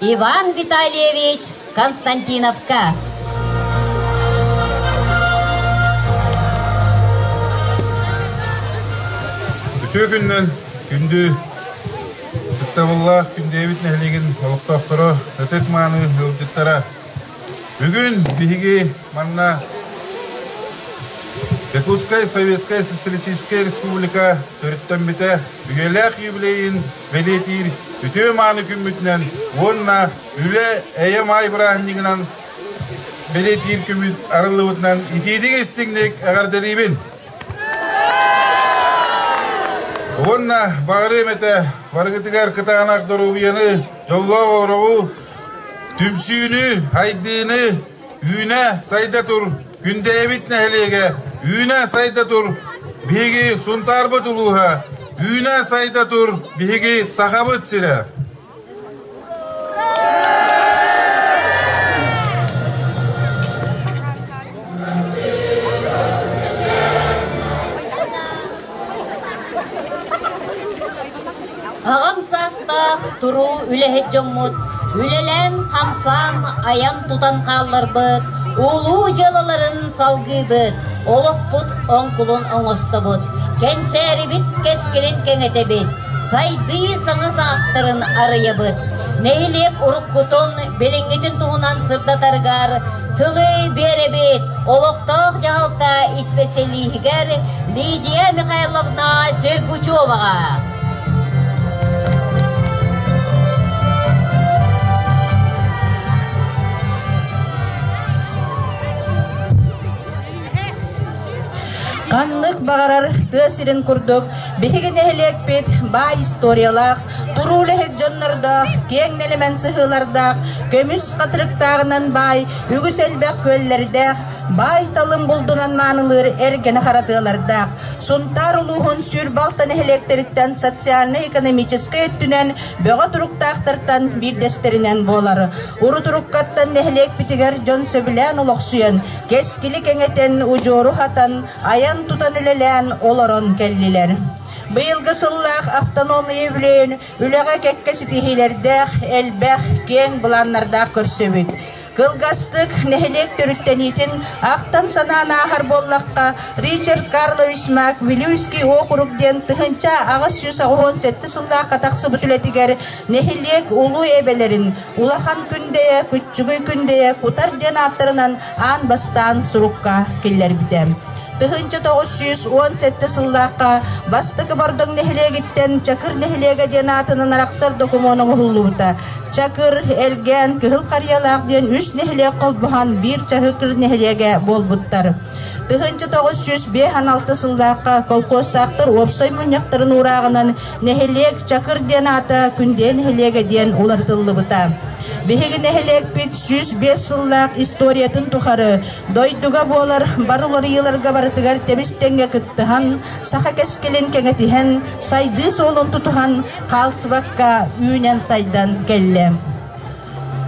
Иван Витальевич Константиновка. Үтүө күннэн күндү ытытабыллаас күндэбит нэһилигин олохтоохторо ытык-мааны ыалдьыттара бүгүн биһиги манна Якутскай Советскай Социалистическай Республика төрүттэммитэ үйэлээх юбилейин бэлиэтиир үтүө-мааны күммүтүнэн уонна үлэ эйэ-маай бырааһынньыгынан бэлиэтиир күммүт арыллыбытынан итиитик-истиҥник эҕэрдэлиибин! Уонна баҕарыам этэ барыгытыгар кытаанах доруобуйаны, дьоллоох олоҕу, түмсүүнү, хайдыыны, Үүнэ, сайда тур, Күндэйэбит нэһилиэгэ, Үүнэ, сайда тур, Биһиги Сунтаарбыт улууһа, Үүнэ, сайда тур, Биһиги Сахабыт сирэ Аҕам саастаах туруу үлэһит дьоммут үлэлээн-хамсаан, айан-тутан хаалларбыт, улуу дьыалаларын салгыыбыт, олохпут оҥкулун оҥостобут, кэнчээрибит кэскилин кэҥэтэбит, сайдыы саҥа саҕахтарын арыйабыт. Нэһилиэк уруккутун, билиҥҥитин туһунан сырдатаргар тылы биэрэбит олохтоох дьаһалта исписэлииһигэр Лидия Михайловна Сергучеваҕа. Ханнык баҕарар тыа сирин курдук биһиги нэһилиэкпит баай историялаах, туруу үлэһит дьоннордоох, киэҥ нэлэмэн сыһыылардаах, көмүс хатырыктааҕынан баай, үгүс элбэх күөллэрдээх, баай-талым булдунан маанылыыр эргэнэ харатыалардаах, Сунтаар улууһун сүр балта нэһилиэктэриттэн социальнай-экономическай өттүнэн бөҕө туруктаахтартан биирдэстэринэн буолар. Урутуруккаттан нэһилиэкпитигэр дьон сөбүлээн олохсуйан, кэскили кэҥэтэн, удьуору хатан, айан-тутан үлэлээн олорон кэллилэр. Быйылгы сыллаах автономный үбүлүөйүн үлэҕэ кэккэ ситиһиилэрдээх, элбэх, киэҥ былааннардаах көрсөбүт. Кылгастык нэһилиэк төрүттэниитин ахтан санаан ааһар буоллахха, Ричард Карлович Маквилюйский округ диэн тыһыынча аҕыс сүүс оҕуһун сэттэ сыллаахха тахсыбыт үлэтигэр нэһилиэк улуу эбэлэрин Улахан Күндэйэ, Күччүгүй Күндэйэ кутар диэн ааттарынан аан бастаан сурукка киллэрбитэ. Тыһыынча тоҕус сүүс уон сэттэ сыллаахха Бастакы Бордоҥ нэһилиэгиттэн Чакыр нэһилиэгэ диэн аатынан арахсар докумуон оҥоһуллубута. Чакыр, Элгээн, Кыһыл Харыйалаах диэн үс нэһилиэк холбоһон биир Чакыр нэһилиэгэ буолбуттар. Тыһыынча тоҕус сүүс биэс алты сыллаахха колхозтаахтар уопсай мунньахтарын уурааҕынан нэһилиэк Чакыр диэн аата Күндүэ нэһилиэгэ диэн уларытыллыбыта. Биһиги нэһилиэкпит сүүс биэс сыллаах историятын тухары Дойдуга буолар бары уларыйыыларга барытыгар тэбис-тэҥҥэ кыттыһан, саха кэскилин кэҥэтиһэн, сайдыы суолун тутуһан хаалсыбакка үүнэн-сайдан кэллэ.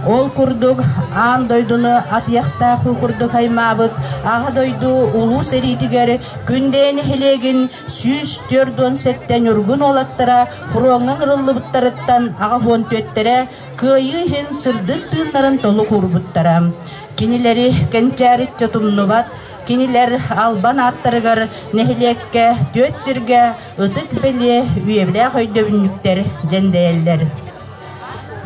Ол курдук, аан дойдуну атыйахтаах уу курдук аймаабыт Аҕа дойду Улуу сэриитигэр Күндэйэ нэһилиэгин сүүс түөрт уон сэттэ ньургун уолаттара фроҥҥа ыҥырыллыбыттарыттан аҕа уон түөттэрэ Кыайыы иһин сырдык тыыннарын толук уурбуттара. Кинилэри кэнчээриттэ тумнубат, кинилэр Албан ааттарыгар нэһилиэккэ, түөрт сиргэ ытык-бэлиэ, үйэбилээх өйдөбүнньүктэр дьэндэйэллэр.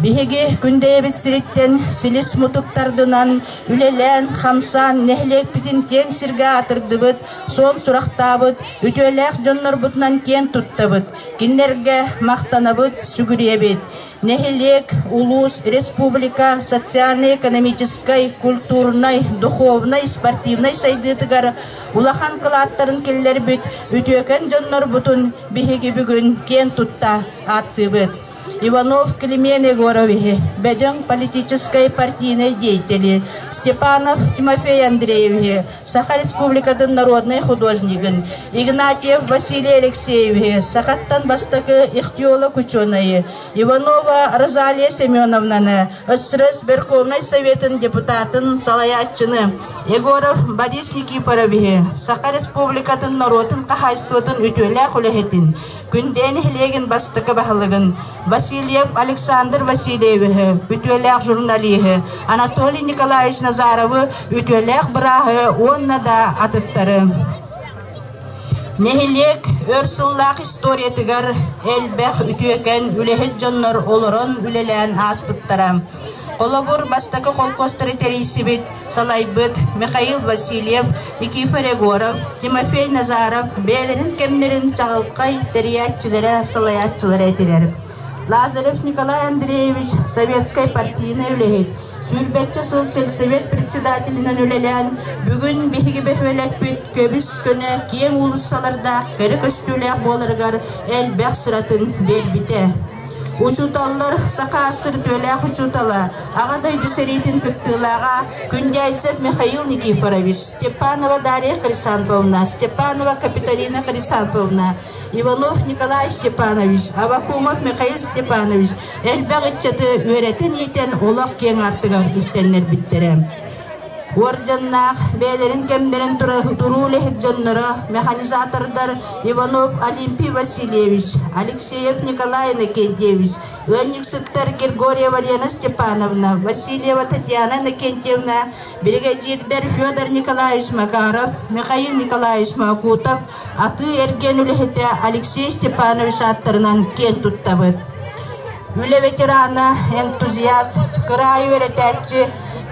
Биһиги Күндэйэбит сириттэн силис-мутук тардынан, үлэлээн-хамсаан нэһилиэкпитин киэҥ сиргэ атырдыбыт, суон сурахтаабыт, үтүөлээх дьоннорбутунан киэн туттабыт, кинилэргэ махтанабыт, сүгүрүйэбит. нэһилиэк, улуус, республика социальнай-экономическай, культурнай, духовнай, спортивнай сайдыытыгар улахан кылааттарын киллэрбит үтүөкэн дьоннорбутун биһиги бүгүн киэн тутта ааттыыбыт. Иванов Климен Егоровиһи, бөдөҥ политическай партийнай деятели, Степанов Тимофей Андреевиһи, Саха Республикатын народнай художнигын Игнатьев Василий Алексеевиһы, сахаттан бастакы ихтиолог-учуонайы Иванова Розалия Семеновнаны, СРЭ Сберкомнай Советын депутатын салайааччыны Егоров Борис Никифоровиһы, Саха Республикатын норуотун хаһаайыстыбатын үтүөлээх үлэһитин, Күндээ нэһилиэгин бастакы баһылыгын Васильев Александр Васильевиһы, үтүөлээх журналиһы Анатолий Николаевич Назаровы, үтүөлээх бырааһы уонна да атыттары. Нэһилиэк өр сыллаах историятыгар элбэх үтүөкэн үлэһит дьоннор олорон үлэлээн ааспыттара. Холобур, бастакы холкуостары тэрийсибит, салайбыт Михаил Васильев Никифор Егоров, Тимофей Назаров бэйэлэрин кэмнэрин чаҕылхай тэрийээччилэрэ, салайааччылара этилэр. Лазарев Николай Андреевич Советскай партийнай үлэһит, сүүрбэччэ сыл сельсовет председателинэн үлэлээн, бүгүн биһиги бөһүөлэкпит көбүс-көнө киэҥ уулуссалардаах кэрэ көстүүлээх буоларыгар элбэх сыратын биэрбитэ. Учууталлар, сакаастыр үтүөлээх учуутала, Аҕа дойду сэриитин кыттыылааҕа Күндяйцев Михаил Никифорович, Степанова Дарья Хрисанфовна, Степанова Капитолина Хрисанфовна, Иванов Николай Степанович, Авакумов Михаил Степанович элбэх ыччаты үөрэтэн-иитэн олох киэҥ аартыгар үктэннэрбиттэрэ. Уор дьонноох, бэйэлэрин кэмнэрин туруу үлэһит дьонноро, механизатордар Иванов Олимпий Васильевич, Алексеев Николай Иннокентьевич, ыанньыксыттар Григорьева Лена Степановна, Васильева Татьяна Иннокентьевна, биригэдьиирдэр Федор Николаевич Макаров, Михаил Николаевич Макутов, Атыы-эргиэн үлэһитэ Алексей Степанович ааттарынан киэн туттабыт. Үлэ ветерана, энтузиаст, кыраайы үөрэтээччи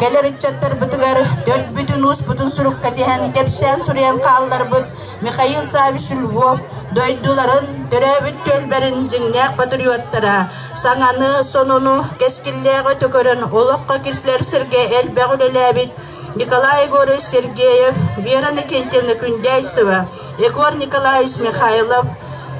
кэлэр ыччаттарбытыгар төрбүтүн-успутун сурукка тиһэн кэпсээн суруйан хаалларбыт Михаил Саввич Львов дойдуларын, төрөөбүт түөлбэрин дьиҥнээх патриоттара, саҥаны, сонуну, кэскиллээҕи тө көрөн олоххо киирсилэр сиргэ элбэх үлэлээбит Николай Егорович Сергеев, Вера Иннокентьевна Күндээйсева, Егор Николаевич Михайлов,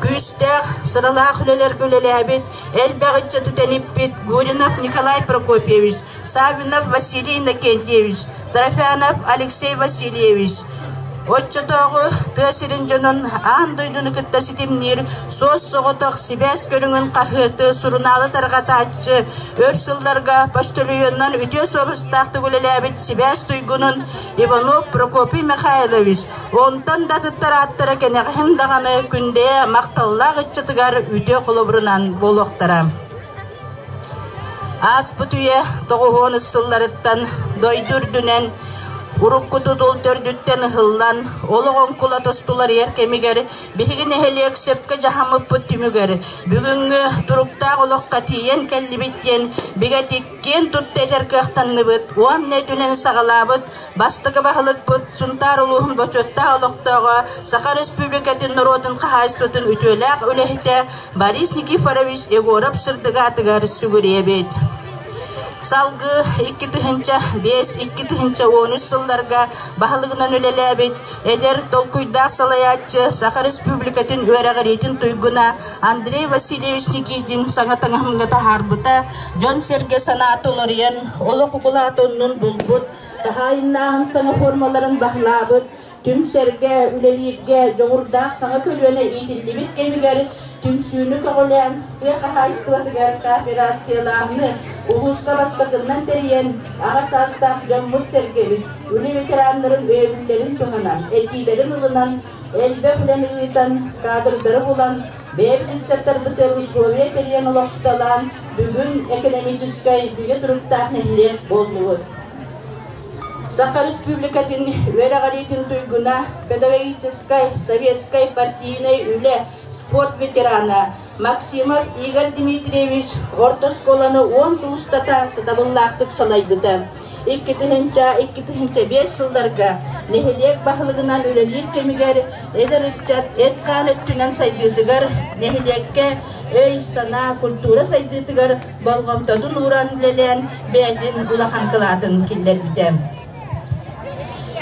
күүстээх, сыралаах үлэлэргэ үлэлээбит, элбэх ыччаты тэниппит Гуринов Николай Прокопьевич, Саввинов Василий Иннокентьевич, Трофянов Алексей Васильевич, Оччотооҕу тыа сирин дьонун аан дойдуну кытта ситимниир суос-соҕотох сибээс көрүҥүн хаһыаты сурунаалы тарҕатааччы өр сылларга почтальонунан үтүө суобастаахтык үлэлээбит сибээс туйгунун Иванов Прокопий Михайлович онтон да атыттар ааттара кэнэҕэһин даҕаны Күндэйэ махталлаах ыччатыгар үтүө холобурунан буолуохтара. Ааспыт үйэ тоҕуһуонус сылларыттан дойду үрдүнэн урукку тутул төрдүттэн ыһыллан, олох оҥкула тустулар ер кэмигэр биһиги нэһилиэк сөпкө дьаһаммыппыт түмүгэр бүгүҥҥү туруктаах олоххо тиийэн кэллибит диэн бигэтик киэн тутта этэр кыахтанныбыт уонна итинэн саҕалаабыт бастакы баһылыкпыт Сунтаар улууһун бочуоттаах олохтооҕо, Саха Республикатын норуотун хаһаайыстыбатын үтүөлээх үлэһитэ Борис Никифорович Егоров сырдыгаатыгар сүгүрүйэбит. Салгыы икки тыһыынча биэс икки тыһыынча уон үс сылларга баһылыгынан үлэлээбит эдэр толкуйдаах салайааччы Саха Республикатын үөрэҕириитин туйгуна Андрей Васильевич Никитин саҥа таҥаһымҥа таһаарбыта дьон-сэргэ санаата уларыйан олох укулаатыннын булбут, хаһаайыннааһын саҥа формаларын баһылаабыт түҥ-сэргэ үлэлииргэ дьоҕурдаах саҥа көлүөнэ иитиллибит кэмигэр түмсүүнү көҕүлээн тыа хаһаайыстыбатыгар кооперациялааһыны улууска бастакыннан тэрийэн аҕа саастаах дьоммут-сэргэбит үлэ ветераннарын өйөбүллэрин туһанан этиилэрин ылынан элбэх үлэни ыытан кадрдары булан бэйэбит ыччаттарбытыгар условия тэрийэн олохсуталаан бүгүн экономическай бигэ туруктаах нэһилиэк буоллубут Саха Республикатын үөрэҕириитин туйгуна, педагогическай, советскай партийнай үлэ, спорт ветерана Максимов Игорь Дмитриевич орто оскуоланы уон сыл устата сатабыллаахтык салайбыта. Иккитыһынча-иккитыһынча биэс сылларга нэһилиэк баһылыгынан үлэлиир кэмигэр эдэр ыччат эт-хаан өттүнэн сайдыытыгар, нэһилиэккэ өй-санаа, культура сайдыытыгар болҕомтотун ууран үлэлээн бэйэтин улахан кылаатын киллэрбитэ.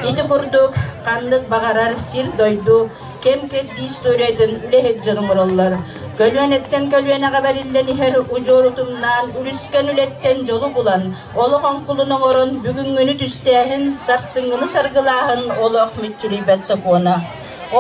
Ити курдук, ханнык баҕарар сир-дойду кэм-кэрдии историятын үлэһит дьон оҥороллор. Көлүөнэттэн көлүөнэҕэ бэриллэн иһэр удьуорутуннаан үлүскэн үлэттэн дьолу булан, олох оҥкулун оҥорон бүгүҥҥүнү түстээһин, сарсыҥҥыны саргылааһын олох мүччүрүйбэт сокуона.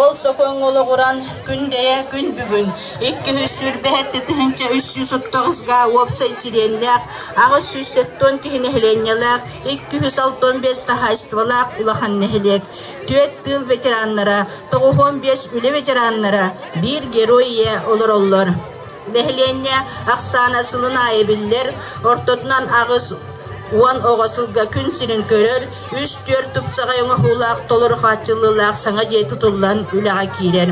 Ол сокуоҥҥа олоҕуран күн дэйэ күн бүгүн иккиһи сүүрбэһэр тэтиһинчэ үс сүүс оттоҕус гаа уопсай сириэннээх аҕыс сүүс сэттион киһи нэһилиэнньэлээх икки үс алтан биэс хаһаайыстыбалаах улахан нэһилиэк түөрт тыыл ветераннара тоҕуһуон биэс үлэ ветераннара биир герой ийэ олороллор Нэһилиэнньэ ахсаана сылын аайы биллэр, ортотунан аҕыс уон оҕо сылга күн сирин көрөр, үс-түөрт тупсаҕай оҥоһуулаах, толору хааччыллыылаах саҥа дьиэ тутуллан үлэҕэ киирэр.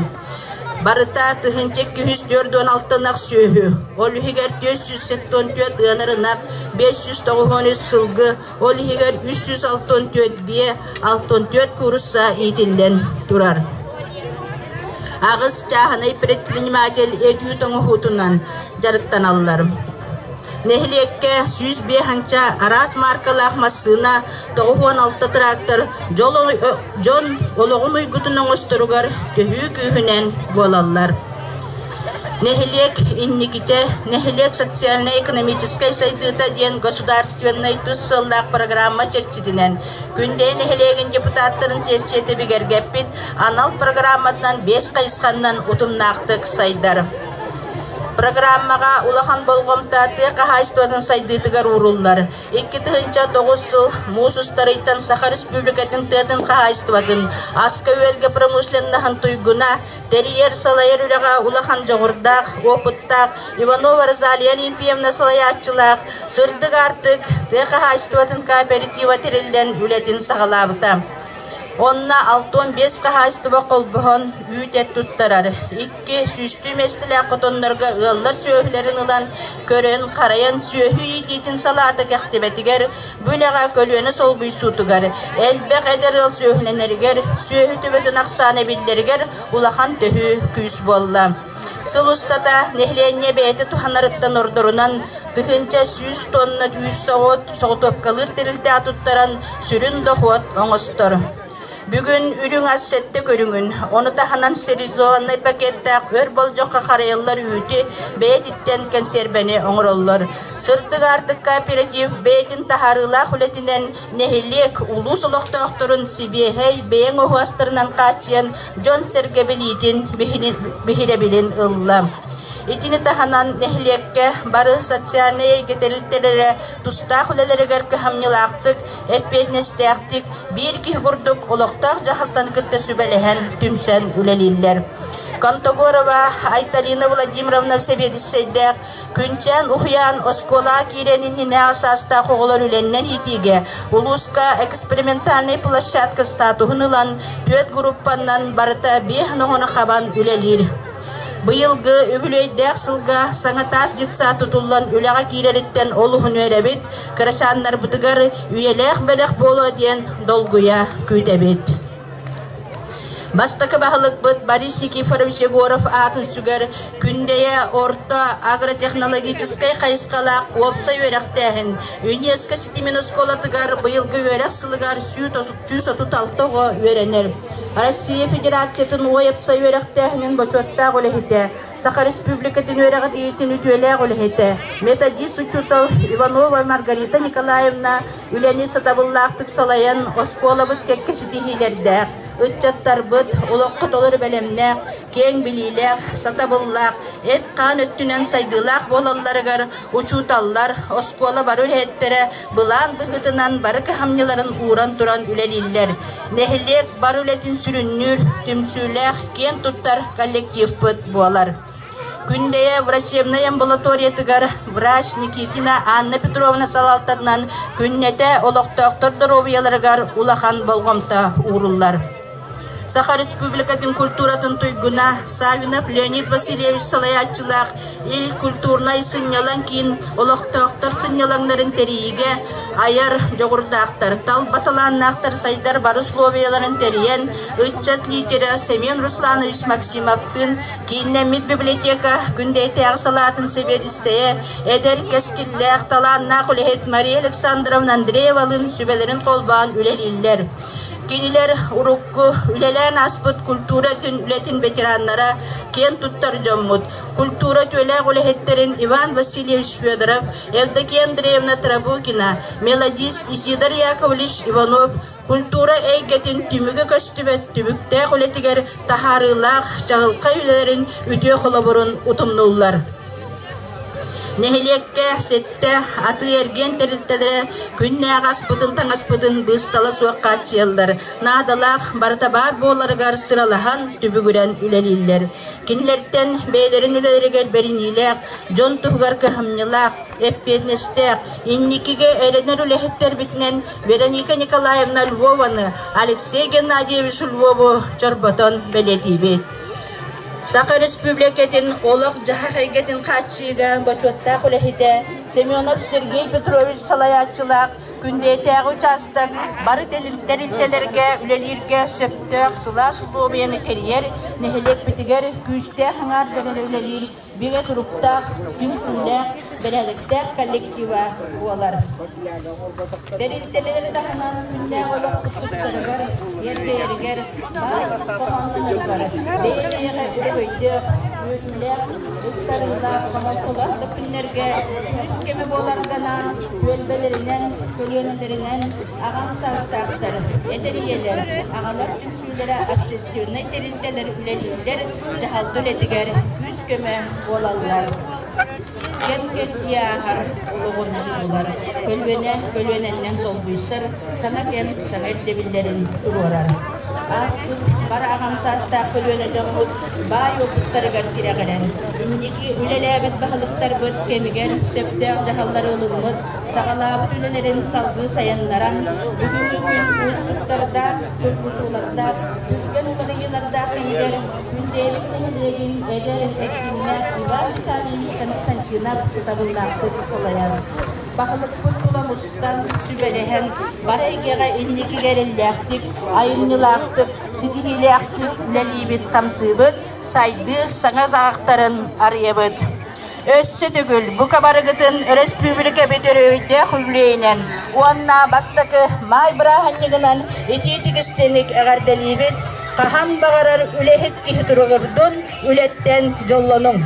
Барыта тыһыынча икки жүз төрт уон алта ынах сүөһү, ол иһигэр төрт сүүс сэттэ уон түөрт ыанар ынах, бес жүз тоҕус уон үс сылгы, ол иһигэр үс сүүс алта он түөрт биэ алта он түөрт курса иитиллэн турар. Аҕыс чааһынай предприниматель эдьүүт оҥоһуутунан дьарыктаналлар. Нэһилиэккэ сүүс биэс аҥча араас мааркалаах массыына, тоҕус уон алта трактор дьон олоҕун уйгутун оҥосторугар төһүү күүһүнэн буолаллар. Нэһилиэк инникитэ Нэһилиэк социальнай-экономическай сайдыыта диэн государственнай тус сыаллаах программа чэрчитинэн Күндэйэ нэһилиэгин депутаттарын сессията бигэргэппит анал программатынан биэс хайысханнан утумнаахтык сайдар. Программаҕа улахан болҕомто тыа хаһаайыстыбатын сайдыытыгар ууруллар. Икки тыһыынча тоҕус сыл муус устарыйтан Саха Республикатын тыатын хаһаайыстыбатын, аска-үөлгэ промышленноһын туйгуна, тэрийэр-салайар үлэҕэ улахан дьоҕурдаах, опыттаах Иванова Розалия Олимпиевна салайааччылаах Сырдык аартык тыа хаһаайыстыбатын кооператива тэриллэн үлэтин саҕалаабыта. Онно алта уон биэс хаһаайыстыба холбоһон үүт-эт туттарар, икки сүүстүү миэстэлээх хотоннорго ыаллар сүөһүлэрин ылан, көрөн-харайан сүөһү иитиитин салаата кэхтибэтигэр Бу үлэҕэ көлүөнэ солбуйсуутугар, элбэх эдэр ыал сүөһүлэнэригэр, сүөһү төбөтүн ахсаана эбиллэригэр улахан төһүү күүс буолла. Сыл устата нэһилиэнньэ бэйэтэ туһанарыттан ордорунан тыһыынча сүүс тонна үүт соҕут, соҕутуопкалыыр тэрилтэ атыттаран сүрүн дохуот оҥостор. Бүгүн үрүҥ ас сэттэ көрүҥүн, ону таһынан стерилизованнай пакетнаах өр болдьоххо харайыллар үүтү бэйэтиттэн кэнсиэрбэни оҥороллор. Сырдык аартык кооператив бэйэтин таһаарыылаах үлэтинэн нэһилиэк, улуус олохтоохторун сибиэһэй бэйэҥ оһуостарынан хааччыйан дьон-сэргэ билиитин биһирэбилин ылла. Итини таһынан нэһилиэккэ бары социальнай эйгэ тэрилтэлэрэ тустаах үлэлэригэр кыһамньылаахтык, эппиэтинэстээхтик, биир киһи курдук олохтоох дьаһалтаны кытта сүбэлэһэн, түмсэн үлэлииллэр. Контогорова Айталина Владимировна сэбиэдиссэйдээх Күнчээн уһуйаан оскуолаҕа киириэн иннинээҕи саастаах оҕолор үлэннэн иитиигэ улууска экспериментальнай площадка статуһун ылан, түөрт группаннан барыта биэс оҕону хабан үлэлиир. Быйылгы үбүлүөйдээх сылга саҥа таас детсад тутуллан үлэҕэ киирэриттэн олуһуну эрэбит, кырачааннарбытыгар үйэлээх бэлэх буолуо диэн долгуйа күүтэбит. Бастакы баһылыкпыт Борис Никифорович Егоров аатын сүгэр Күндэйэ орто агротехнологическай хайысхалаах уопсай үөрэхтээһин ЮНЕСКО ситимин оскуолатыгар быйылгы үөрэх сылыгар сүүс отут алта оҕо үөрэнэр. Россия Федерациятын уопсай үөрэхтээһинин бочуоттаах үлэһитэ, Саха Республикатын үөрэҕин иитин үтүөлээх үлэһитэ, методист учуутал Иванова Маргарита Николаевна үлэни сатабыллаахтык салайан, оскуолабыт кэккэ ситиһиилэрдээх, ыччаттарбыт олоххо толору бэлэмнээх, киэҥ билиилээх, сатабыллаах, эт-хаан өттүнэн сайдыылаах буолалларыгар учууталлар, оскуола бары үлэһиттэрэ Былаан быһыытынан бары кыһамньыларын ууран туран үлэлииллэр. Нэһилиэк бар үлэтин сүрүннүүр, түмсүүлээх, киэн туттар коллективпыт буолар. Күндэйэ врачебнай амбулаториятыгар врач Никитина Анна Петровна салалтатынан күннэтэ олохтоохтор доруобуйаларыгар улахан болҕомто ууруллар. Саха Республикатын культуратын туйгуна, Савинов Леонид Васильевич салайааччылаах Ил культурнай сынньалаҥ киин олохтоохтор сынньалаҥнарын тэрийиигэ айар дьоҕурдаахтар, талба талааннаахтар сайдар бары условияларын тэрийэн, ыччат лидера Семен Русланович Максимовтыын кииннэммит библиотека Күндэйтээҕи салаатын сэбиэдиссэйэ, эдэр кэскиллээх, талааннаах үлэһит Мария Александровна Андреевалыын сүбэлэрин холбоон үлэлииллэр. Кинилэр урукку үлэлээн ааспыт культура үлэтин ветераннара, киэн туттар дьоммут, культура түүлээх үлэһиттэрин Иван Васильевич Федоров, Евдокия Андреевна Трабукина, мелодист Исидар Яковлевич Иванов культура эйгэтин түмүгэ көстүбэт түбүктээх үлэтигэр таһаарыылаах чаҕылхай үлэлэрин үтүө холобурун утумнуллар. Нэһилиэккэ сэттэ атыы-эргиэн тэрилтэлэрэ күннээҕи аспытын-таҥаспытын быыстала суох хааччыйаллар, наадалаах барыта баар буоларыгар сыралаһан, түбүгүрэн үлэлииллэр. Кинилэртэн бэйэлэрин үлэлэригэр бэриниилээх, дьон туһугар кыһамньылаах, эппиэтинэстээх, инникигэ эрэнэр үлэһиттэрбитинэн Вероника Николаевна Львованы, Алексей Геннадьевич Львову чорботон бэлиэтиибит. Саха Республикатын олох-дьаһах эйгэтин хааччыыга бочуоттаах үлэһитэ Семенов Сергей Петрович салайааччылаах Күндэйдээҕи учаастак бары тэрилтэлэргэ үлэлииргэ сөптөөх сылаас усулуобуйаны тэрийэр, нэһилиэкпитигэр күүстээх аҥаардара үлэлиир бигэ туруктаах, түмсүүлээх, бэрээдэктээх коллектива буолар. Тэрилтэлэри таһынан күннээх олохпут тупсарыгар, эрдэйэригэр, баар хоһоонноноругар бэйэ-бэйэҕэ өйдөөх, үөтүүлээх, ыктарыылаах хоһоҥколоох да күннэргэ үгүс кэмэ буоларданаан, түөлбэлэринэн, көлүөнэлэринэн аҕам саастаахтар, эдэр ийэлэр, аҕалар көрсүүлэрэ общественнай тэрилтэлэр үлэлииллэр, дьаһалта үлэтигэр күүс-көмө буолаллар. Кэм кэрдии ааһар олоҕу наһыйыылар көлүөнэ көлүөнэннэн солбуйсар саҥа кэм саҥа ирдэбиллэрин туруорар. Ааспыт бары аҕам саастаах көлүөнэ дьоммут баай уопуттарыгар тирэҕирэн, инники үлэлээбит баһылыктарбыт кэмигэр сөптөөх дьаһаллары ылыммыт саҕалаабыт үлэлэрин салгыы сайыннаран, бүгүҥҥү күн уустуктардаах, тургутуулардаах, түргэн уларыйыылардаах иһигэр күн бэйэбит нэһилиэгин эдэр, эрчимнээх Иван Витальевич Константинов сатабыллаахтык салайан, баһылыкпыт тула мустан, сүбэлэһэн, бары эйгэҕэ инникигэ эрэллээхтик, айымньылаахтык, ситиһиилээхтик үлэлиибит-хамсыыбыт, сайдыы саҥа саҕахтарын арыйабыт. Өссө төгүл бу кабарыгытын өрөспүүбүлүкэбит өрөгөйдөөх үбүлүөйүнэн уонна бастакы маай бырааһынньыгынан итии тигистиник эҕэрдэлиибит! Хаһан баҕарар үлэһит киһи туругурдун, үлэттэн дьоллонуҥ!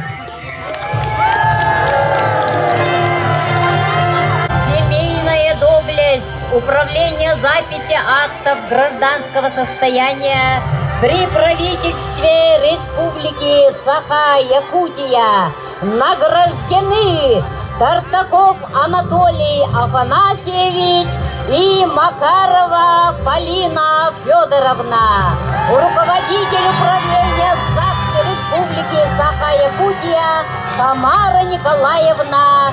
Семейная доблесть Управление записи актов гражданского состояния при правительстве Республики республики Саха, Якутия, награждены Тартаков Анатолий Афанасьевич и Макарова Полина Федоровна, руководитель управления ЗАГС Республики Саха-Якутия Тамара Николаевна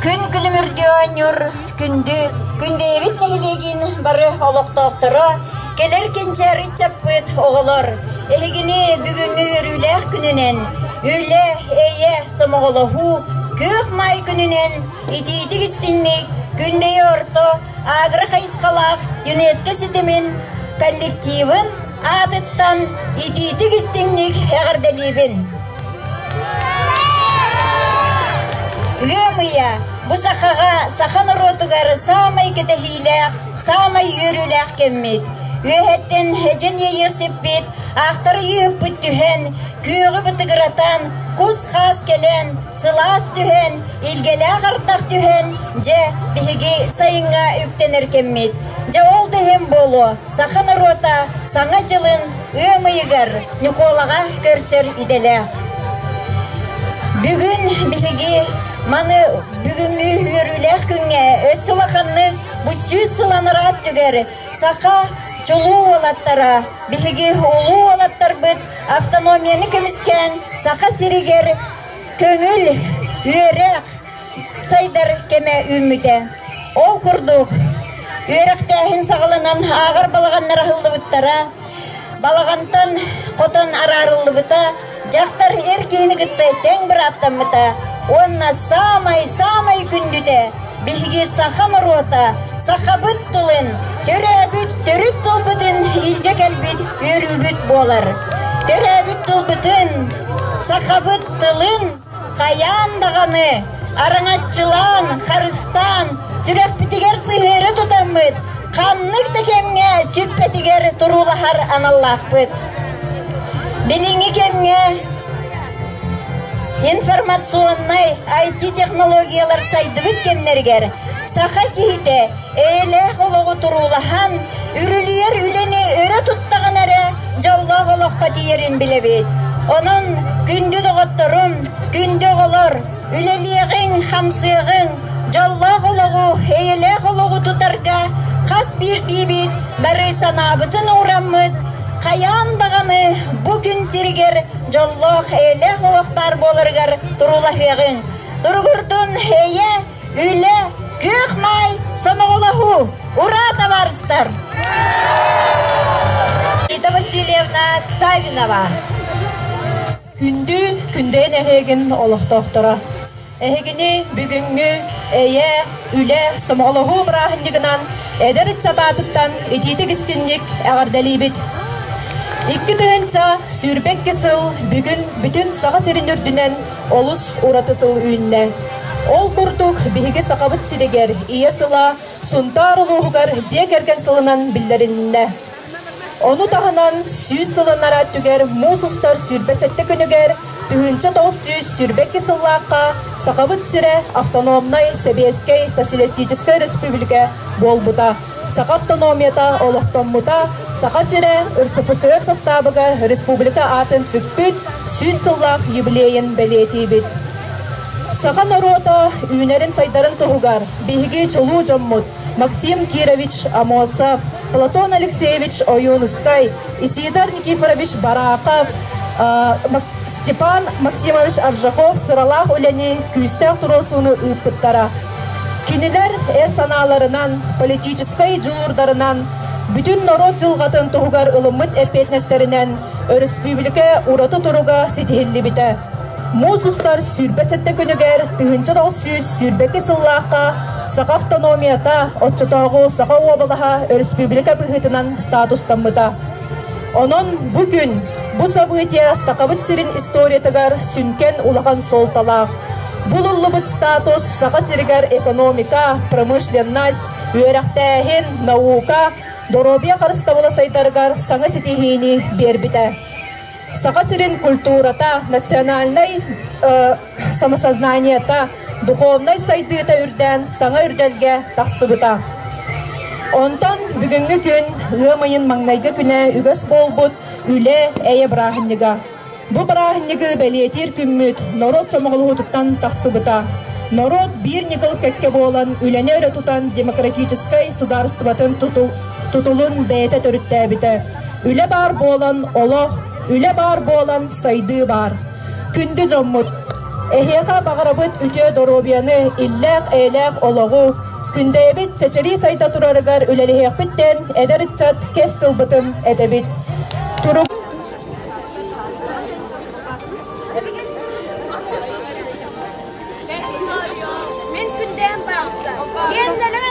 Күн күнүм үрдү оонньуур күндү Күндэйэбит нэһилиэгин бары олохтоохторо, кэлэр кэнчээри ыччаппыт оҕолор, эһигини бүгүҥҥү өрүүлээх күнүнэн, үлэ, эйэ, сомоҕолоһуу, күөх маай күнүнэн итиитик истиҥник Күндэйэ орто агрохайысхалаах ЮНЕСКО ситимин коллективын аатыттан итиитик-истиҥник эҕэрдэлиибин! Ыам ыйа бу сахаҕа саха норуотугар саамай кэтэһиилээх, саамай үөрүүлээх кэммит. Үөһэттэн эдьэн иэйиэх сиппит, аахтар ыйыыппыт түһэн, күөҕү бытыгыратан, кус-хаас кэлэн, Сылаас түһэн, илгэлээх ардах түһэн, дьэ, биһиги сайыҥҥа үктэнэр кэммит. Дьэ, ол да иһин буолуо, саха норуота Саҥа дьылын ыам ыйыгар Ньукуолаҕа көрсөр идэлээх. Бүгүн биһиги маны бүгүҥҥү үөрүүлээх күҥҥэ өс улаханнык бу сүүс сылланара өттүгэр саха чулуу уолаттара, биһиги улуу уолаттарбыт автономияны көмүскээн Саха сиригэр Көҥүл, үөрэх сайдар кэмэ үүммүтэ. Ол курдук, үөрэхтээһин саҕаланан ааҕар балаҕаннар аһыллыбыттара, балаҕантан хотон араарыллыбыта, дьахтар эр киһини кытта тэҥ бырааптаммыта уонна саамай-саамай күндүтэ Биһиги саха норуота сахабыт тылын, төрөөбүт төрүт тылбытын илдьэ кэлбит үөрүүбүт буолар. Төрөөбүт тылбытын, сахабыт тылын хайаан даҕаны араҥаччылаан, харыстаан, сүрэхпитигэр сыһыары тутаммыт ханнык да кэмҥэ сүппэтигэр туруулаһар аналлаахпыт. Билиҥҥи кэмҥэ Информационнай IT-технологиялар сайдыбыт кэмнэригэр саха киһитэ эйэлээх олоҕу туруулаһан, үрүлүйэр үлэни өрө туттаҕын эрэ дьоллоох олоххо тиийэрин билэбит. Онон күндү доҕотторум, күндү оҕолор, үлэлиэҕиҥ, хамсыаҕыҥ, дьоллоох олоҕу, эйэлээх олоҕу тутарга хас биирдиибит бары санаабытын уураммыт хайаан даҕаны бу күн сиригэр дьоллоох-эйэлээх олох баар буоларыгар туруулаһыаҕыҥ. Туругурдун эйэ, үлэ, кыах-маай, сомоҕолоһуу, ураа табаарыстар! Рита Васильевна Савинова Күндү Күндэйин эһигин олохтоохторо! Эһигини бүгүҥҥү эйэ, үлэ, сомоҕолоһуу бырааһынньыгынан эдэр ыччат аатыттан итиитик истинник эҕэрдэлиибит. Икки тыһыынча сүүрбэ икки сыл бүгүн бүтүн Саха сирин үрдүнэн олус ураты сыл үүннэ. Ол курдук биһиги Сахабыт сиригэр Ийэ сыла Сунтаар улууһугар дьиэ кэргэн сылынан биллэрилиннэ. Ону таһынан сүүс сылынара өттүгэр муус устар сүүрбэ сэттэ күнүгэр, тыһыынча тоҕус сүүс сүүрбэ икки сыллаахха Сахабыт сирэ автономнай Сэбиэскэй Социалистическай Өрөспүүбүлүкэ буолбута, саха автономията олохтоммута, Саха сирэ РСФСР састаабыгар республика аатын сүкпүт сүүс сыллаах юбилейын бэлиэтиибит. Саха норуота үүнэрин-сайдарын туһугар биһиги чулуу дьоммут Максим Кирович Амосов, Платон Алексеевич Оюнскай, Исидар Никифорович Барахов, Степан Максимович Аржаков сыралаах үлэни, күүстээх туруорсууну ыыппыттара. Кинилэр эр санааларынан, политическай дьулуурдарынан, бүтүн норуот дьылҕатын туһугар ылыммыт эппиэтинэстэринэн өрөспүүбүлүкэ ураты туруга ситиһиллибитэ. Муус устар сүүрбэ сэттэ күнүгэр тыһыынча тоҕус сүүс сүүрбэкис сыллаахха саха автономията оччотооҕу саха уобалаһа өрөспүүбүлүкэ быһыытынан статустаммыта. Онон бу күн бу событие Сахабыт сирин историятыгар сүҥкэн улахан суолталаах. Булуллубут статус Саха сиригэр экономика, промышленность, үөрэхтээһин, наука, доруобуйа харыстабыла сайдарыгар саҥа ситиһиини биэрбитэ. Саха сирин культурата, национальнай э, самосознаниета, духовнай сайдыыта үрдээн саҥа үрдэлгэ тахсыбыта. Онтон бүгүҥҥү күн ыам ыйын маҥнайгы күнэ үгэс буолбут үлэ эйэ бырааһынньыга. Бу бырааһынньыгы бэлиэтиир күммүт норуот сомоҕолоһуутуттан тахсыбыта. Норуот биир ньыкыл кэккэ буолан үлэни өрө тутан демократическай судаарыстыбатын тутул, тутулун бэйэтэ төрүттээбитэ. Үлэ баар буолан олох, үлэ баар буолан сайдыы баар. Күндү дьоммут, эһиэхэ баҕарабыт үтүө доруобуйаны, иллээх-эйэлээх олоҕу, күндэйэбит чэчирии сайда турарыгар үлэлэһиэхпит диэн эдэр ыччат кэс тылбытын этэбит. Турук Мен күндээн баалта. Мен нелемен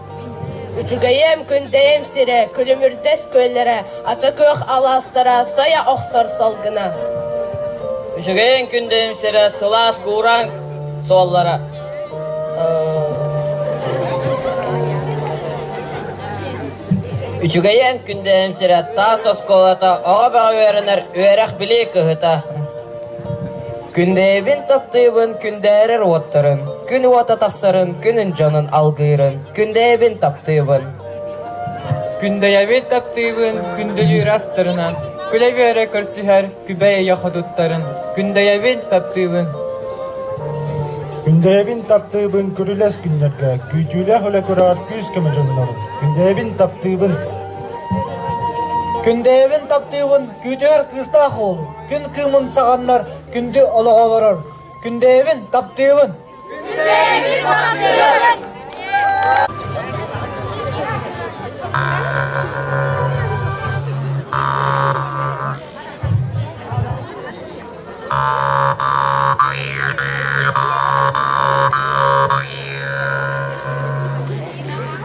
Ичигэйиэм, Күндэйим сирэ, Күлүмүрдэс күөллэрэ, Ача-Күөх алаастара сайа охсор салгына Ичигэйиэм, Күндэйим сирэ, сылаас куураан суоллара Үчүгэйиэм, Күндэйим сирэ, таас оскуолата, оҕо бөҕө үөрэнэр үөрэх-билии кыһыта Күндэйэбин таптыыбын күндээрэр уоттарын, күн уота тахсарын күнүн дьонун алгыырын, күндэйэбин таптыыбын. Күндэйэбин таптыыбын күндүлүүр астарынан, күлэ-үөрэ көрсүһэр күбэй-өйө ходуттарын, күндэйэбин таптыыбын. Күндэйэбин таптыыбын күрүлэс күннэргэ, күүтүүлээх үлэ көрөр күүс-көмө дьоннорун, күндэйэбин таптыыбын. Күндэйэбин таптыыбын күүтүөр кыыстаах уолун, Күн кыымын саҕаннар күндү олоҕу олорор. Күндэйэбин, таптыыбын!